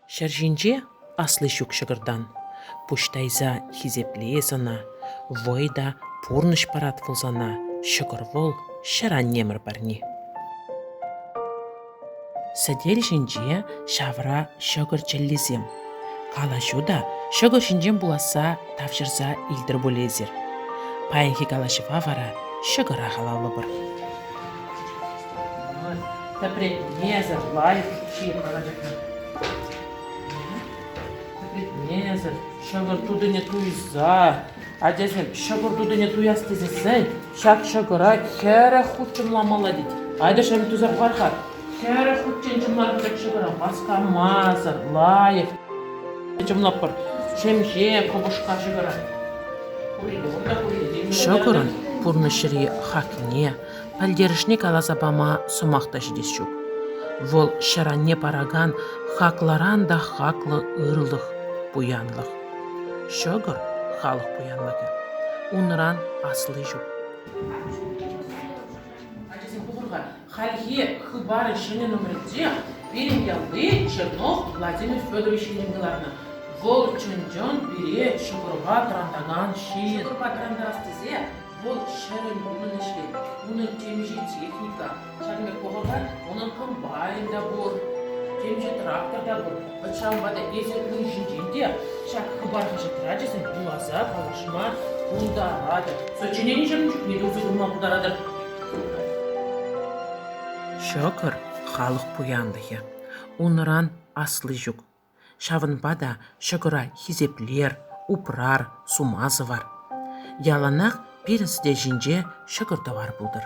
Ҫӗр ҫинче асли ҫук ҫӑкӑртан. Пуҫ тайса хисеплес ӑна, вӑй та пурнӑҫ парат вӑл сана. Ҫӑкӑр вӑл ҫӗр аннемӗр парни. Сӗтел ҫинче ҫавра ҫӑкӑр чӗллисем. Калаҫу та ҫӑкӑр ҫинчен пуласса тавҫӑрса илтӗр пуль эсир. Паянхи калаҫӑва вара ҫӑкӑра халаллӑпӑр. Тепре несӗр лайӑх чи паратӑп. Несӗр ҫӑкӑр тутине туйса, ачасем ҫӑкӑр тутине туяс тесессен ҫак ҫӑкӑра хӗрӗх хутшӑнламалла тет. Ачасем туса хӑвар-ха. Хӗрӗх хутчен чӑмлар ҫак ҫӑкӑра васкамасӑр, лайӑх. Чӑмлаппӑр ҫемҫе кӑпӑшка ҫӑкӑра. Ҫӑкӑрӑн пурнӑҫри хакне Пӗлтерӗшне каласа пама сӑмах та ҫитес ҫук. Вӑл ҫӗр-анне паракан хаклӑран та хаклӑ ырлӑх, пуянлӑх. Ҫӑкӑр – халӑх пуянлӑхӗ. Унран асли ҫук. Ачасем пухӑрха, хальхи хыпар ҫӗнӗ номерӗнче пирӗн ялти Чернов Владимир Федорович илем кӑларнӑ. Вӑл чӑн-чӑн пире ҫӑкӑрпа тӑрантакан ҫын. Ҫӑкӑрпа тӑрантарас тесе Вӑл ҫӗрӗн умӗн ӗҫлет. Унӑн темиҫе техника, ҫак пек вӑхӑта унӑн комбайн та пур, темиҫе трактор та пур. Вӑт ҫавӑнпа та эсӗ ун ҫинчен те ҫак хыпар хаҫат трачӗсем вуласа калаҫма пултаратӑр. Сочиненисем чухне те усӑ курма пултаратӑр. Ҫӑкӑр халӑх пуянлӑхӗ. Унран асли ҫук, Ҫавӑнпа та ҫӑкӑра хисеплер, упрар, сума сӑвар. Яланах пирӗн сӗте ҫинче ҫӑкӑр-тӑвар пултӑр.